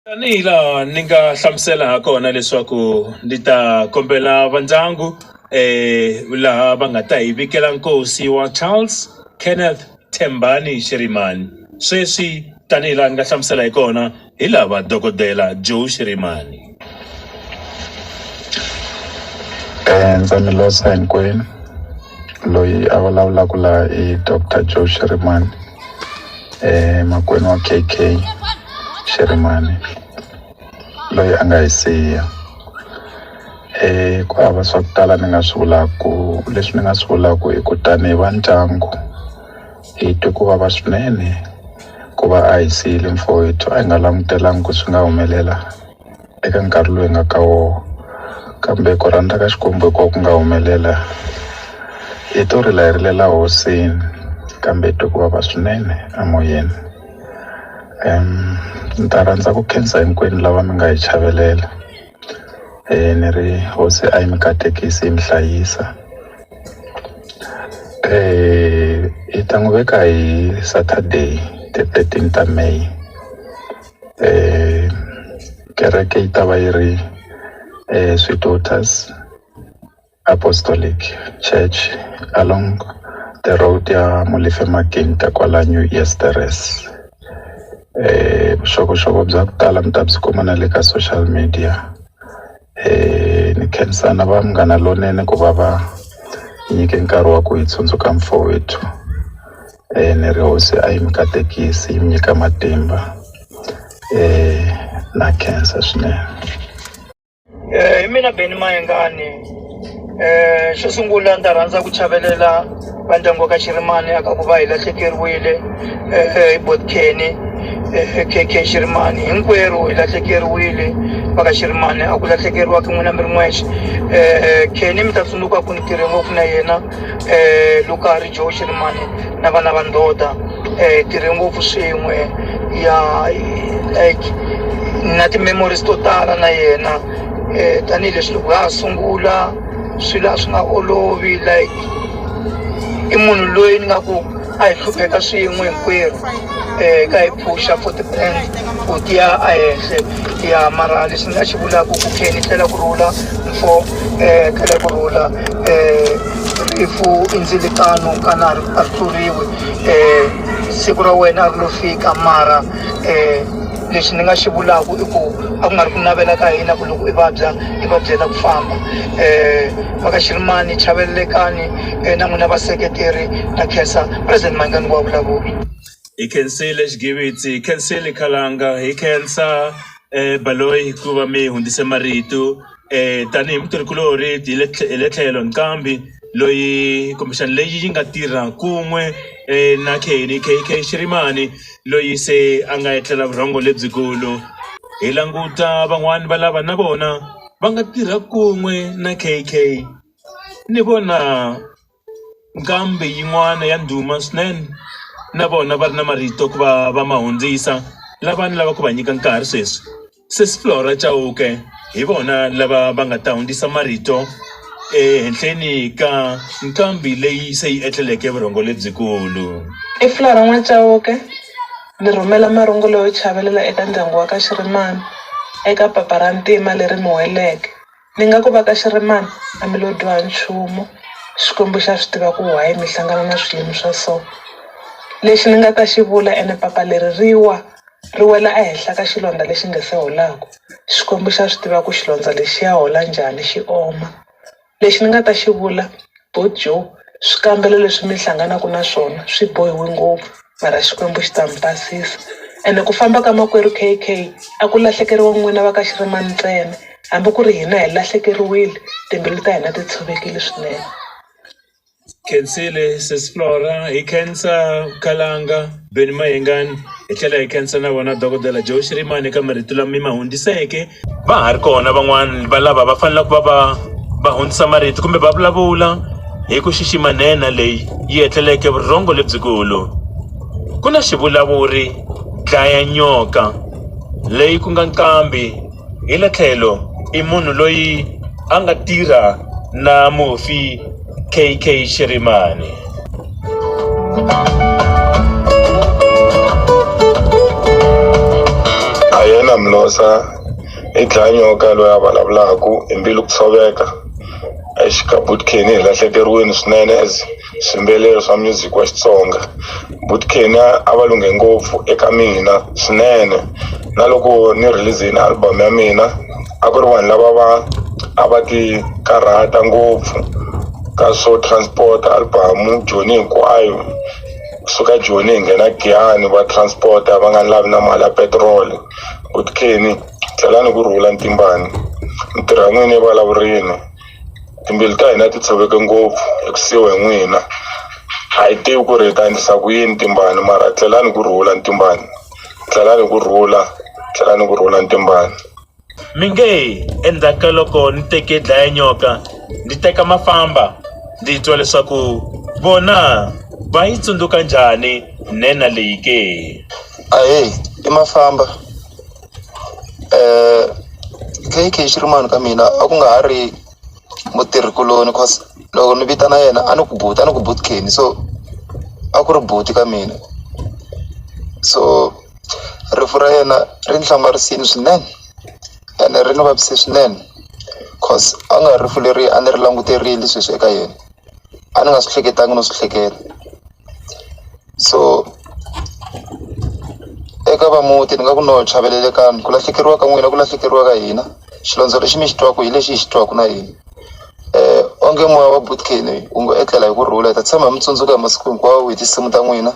Tanihi laha ni nga hlamusela ha kona leswaku ni ta kombela va ndyangu laha va nga ta hi vikela nkosi wa Charles Kenneth Thembani Shirimani sweswi tanihi laha ni nga hlamusela hi kona hi lava dokodela Joe Shirimani. Ndza mi losa hinkwenu. loyi a vulavulaka la i Dr. Joe Shirimani eh makwenu wa KK Shirimani loyi a nga hi siya eh ku hava swa ku tala ni nga swi vulaku leswi ni nga swi vulaku i ku tanihi va ndyangu hi twe ku vava swinene ku va a hi siyile mfowethu a hi nga langutelangi ku swi nga humelela eka nkarhi lowu hi nga ka wona kambe ku rhandza ka Xikwembu hi kona ku nga humelela hi to rila hi rilela hosini kambe hi twe ku vava swinene emoyeni ni ta rhandza ku khensa hinkwenu lava mi nga hi chavelela ni ri hosi a yi mi katekisi yi mi hlayisa hi ta n'wi veka hi Saturday ti-thirteen ta May. kereke yi ta va yi ri Sweet Daughters Apostolic Church along the road ya Molefe Magenta kwala New Years Terrace vuxokoxoko bya ku tala mi ta byi kuma na le ka social media. ni khensa na va Munghana Lonene ku va va hi nyike nkarhi wa ku hi tsundzuka mfowethu ni ri hosi a yi mi katekisi yi mi nyika matimba na khensa swinene. hi mina Benny Mayengani xo sungula ni ta rhandza ku chavelela va ndyangu wa ka Shirimani a ka ku va hi lahlekeriwile hi buti Kenny K_K Shirimani hinkwerhu hi lahlekeriwile va ka Shirimani a ku lahlekeriwa ka n'wina mi ri n'wexe Kenny mi ta tsundzuka ku ni tirhe ngopfu na yena loko a ha ri Joe Shirimani na vana va ndhota hi tirhe ngopfu swin'we ya like na ti-memories to tala na yena. tanihileswi loko ha ha sungula swilo a swi nga olovi like i munhu loyi ni nga ku a hi hlupheka swin'we hinkwerhu ka hi phusha futhi ku tiya a henhle ya mara lexi ni nga xi vulaku ku khe ni tlhela ku rhula mfo tlhela ku rhula rifu i ndzilakano ka na ri a ri tluriwi siku ra wena a ri lo fika mara . lexi ni nga xi vulaka i ku a ku nga ri ku navela ka hina ku loko i vabya i vabyela ku famba um va ka xirimani chavelelekani um na n'wina vaseketeri na khensa president manghezi wa vulavula hi khensile xigivitsi hi khensile khalanga hi khensa baloyi hikuva mi hundzise marito. tanihi mutirhikuloni hi le hi le tlhelo nqambi loyi kumbexana leyi yi nga tirha kun'we na K_K Shirimani loyi se a nga etlela vurhongo lebyikulu hi languta van'wani va lava na vona va nga tirha kun'we na K_K ni vona. Nqambi yin'wana ya ndhuma swinene na vona va ri na marito ku va va ma hundzisa lava ni lava ku va nyika nkarhi sweswi sesi Flora Chauke hi vona lava va nga ta hundzisa marito ehenhleni ka nqambi leyi se yi etleleke vurhongo lebyikulu. I Flora N'wa Chauke ni rhumela marungulo yo chavelela eka ndyangu wa ka Xirimani eka papa ra ntima leri mi weleke. Ni nga ku va ka xi ri mani a mi lo dyoha nchumu Xikwembu xa swi tiva ku why mi hlangana na swiyimo swa so lexi ni nga ta xi vula ene papa leri ri wa ri wela ehenhla ka xilondza lexi nga se holaku Xikwembu xa swi tiva ku xilondza lexiya hola njhani xi oma lexi ni nga ta xi vula Bojo, swikambelo leswi mi hlanganaka na swona swi bohiwe ngopfu mara Xikwembu xi ta mi basisa ene ku famba ka makwerhu K_K a ku lahlekeriwa n'wina va ka Xirimani ntsena hambi ku ri hina hi lahlekeriwile timbilu ta hina ti tshovekile swinene. Khensile sesi Flora hi khensa Khalanga. Benny Mayengani hi tlhela hi khensa na vona dokodela Joe Shirimani eka marito lama mi ma hundziseke va ha ri kona van'wana va lava va faneleke va va va hundzisa marito kumbe va vulavula hi ku xixima nhenha leyi yi etleleke vurhongo lebyikulu ku na xivulavuri dlaya nyoka leyi ku nga nqambi Hi le tlhelo i munhu loyi a nga tirha na mufi KK Shirimani. A yena Mlosa i dlanyoka loyi a vulavulaka hi mbilu ku tshoveka exikabutkeni hi lahlekeriwile swinene as swiyimbeleri swa music wa Xitsonga but Kenya a va lunghe ngopfu eka mina swinene na loko ni release-ini album ya mina a ku ri vanhu lava va a va ti karhata ngopfu ka swo transport album Joni hinkwayo kusuka Joni hi nghena Giyani va transport va nga lavi na mali ya petiroli but Kenny tlhelani ku rhula ntimbani ni tirha n'wini evulavurini Timbilu ta hina ti tshoveke ngopfu hi ku siyiwa hi n'wina a hi tivi ku ri hi ta endlisa ku yini timbani mara tlhelani ku rhula timbani tlhelani ku rhula tlhelani ku rhula timbani mi nge endzhaku ka loko ni teke dlaya nyoka ndzi teka mafamba ndzi twa leswaku vona va yi tsundzuka njhani nhenha leyi ke ahee i mafamba. K_K Shirimani ka mina a ku nga ha ri mutirhi kuloni cause loko ni vitana yena a ni ku buti a ni ku buti Kenny so a ku ri buti ka mina so rifu ra yena ri ni hlamarisile swinene ene ri ni vavise swinene cause a ku nga ri rifu leri a ni ri languterile sweswi eka yena a ni nga swi hleketaka no swi hleketa. so eka va muti ni nga ku no chavelelekani ku lahlekeriwa ka n'wina ku lahlekeriwa ka hina xilondza lexi mi xi twaku hi lexi hi xi twaku na hina um onge moya wa butkeni wu ngo etlela hi ku rhula hi ta tshama hi mi tsundzuka hi masiku hinkwawo hi tinsimu ta n'wina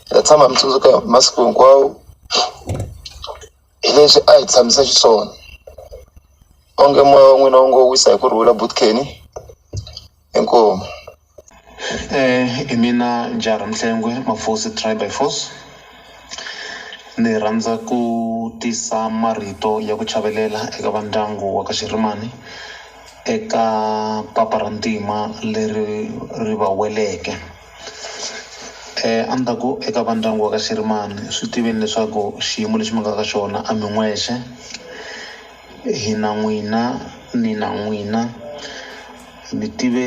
hi ta tshama hi mi tsundzuka hi masiku hinkwawo hi leswi a hi tshamisa xiswona onge moya wa n'wina wu ngo wisa hi ku rhula butkeni inkomu. Eh, i mina Njara Mhlengwe Mafosi Try by Force ni rhandza ku tisa marito ya ku chavelela eka va ndyangu wa ka Xirimani eka papa ra ntima leri ri va weleke eh a ni ta ku eka va ndyangu wa ka Xirimani swi tiveni leswaku xiyimo lexi mi nga ka xona a mi n'wexe. Hina n'wina, nina n'wina. Mi tive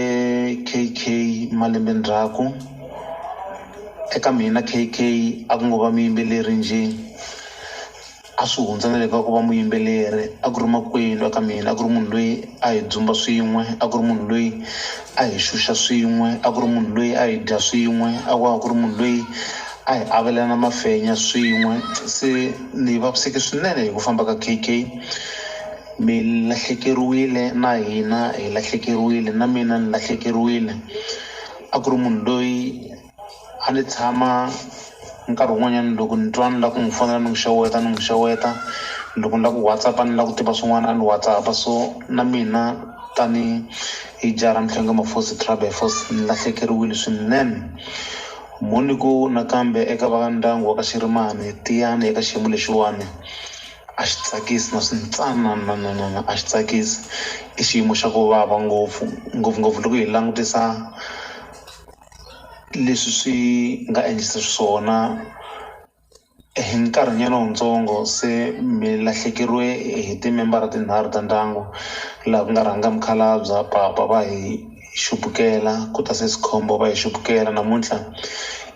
KK malembe ndzhaku. Eka mina KK a ku ngo va muyimbeleri njhe, a swi hundza na le ka ku va muyimbeleri. A ku ri makwenu eka mina, a ku ri munhu loyi a hi dzumba swin'we, a ku ri munhu loyi. a hi xuxa swin'we a ku ri munhu loyi a hi dya swin'we a ku a ku ri munhu loyi a hi avelana mafenya swin'we se ni vaviseke swinene hi ku famba ka KK mi lahlekeriwile na hina hi lahlekeriwile na mina ni lahlekeriwile a ku ri munhu loyi A ni tshama nkarhi wun'wanyani loko ni twa ni la ku n'wi fonela ni n'wi xeweta ni n'wi xeweta loko ni la ku WhatsApp-a ni la ku tiva swin'wana a ni WhatsApp-a so na mina tani hi jaha ra Mhlonge Mafosi Tribe by Force ni lahlekeriwile swinene mo ni ku nakambe eka va ndyangu wa ka Xirimani tiyani eka xiyimo lexiwani a xi tsakisi na swi ntsanananana a xi tsakisi i xiyimo xa ku vava ngopfu ngopfungopfu loko hi langutisa. leswi swi nga endlisa xiswona hi nkarhi nyana wutsongo se mi lahlekeriwe hi timembara tinharhu ta ndyangu laha ku nga rhanga mukhalabye papa va hi xupukela ku ta sesi khombo va hi xupukela namuntlha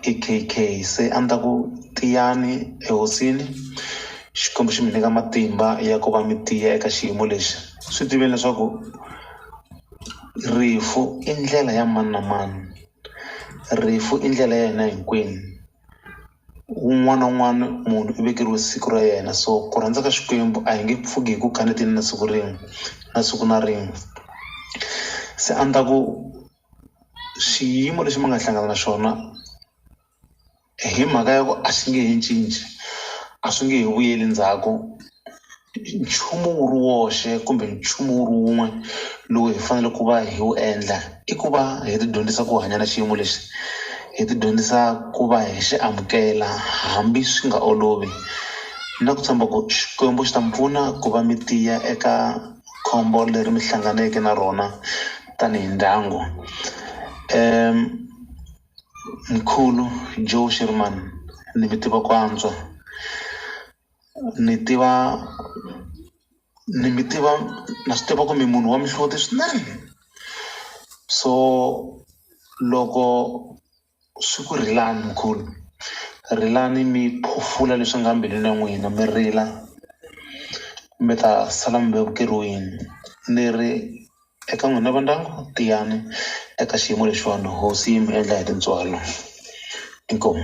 i K_K se a ni ta ku tiyani ehosini Xikwembu xi mi nyika matimba ya ku va mi tiya eka xiyimo lexi swi tiveni leswaku Rifu i ndlela ya mani na mani rifu i ndlela ya hina hinkwenu un'wana na un'wana munhu u vekeriwe siku ra yena so ku rhandza ka Xikwembu a hi nge pfuki hi ku kaneteni na siku rin'we na siku na rin'we se a ni ta ku xiyimo lexi mi nga hlangana na xona. hi mhaka ya ku a swi nge he cinci a swi nge he vuyeli ndzhaku nchumu wu ri woxe kumbe nchumu wu ri wun'we lowu hi fanele ku va hi wu endla i ku va hi ti dyondzisa ku hanya na xiyimo lexi hi ti dyondzisa ku va hi xi amukela hambi swi nga olovi na ku tshemba ku Xikwembu xi ta mi pfuna ku va mi tiya eka khombo leri mi hlanganeke na rona tanihi ndyangu . Mkhulu Joe Shirimani ni mi tiva ku antswa ni tiva ni mi tiva na swi tiva ku mi munhu wa mihloti swinene so loko swi ku rilani mkhulu rilani mi phofula leswi nga mbilwini ya n'wina mi rila mi ta sala mi vevukeriwile ni ri. Eka n'wina va ndyangu tiyani eka xiyimo lexiwani hosi yi mi endla hi tintswalo inkomu.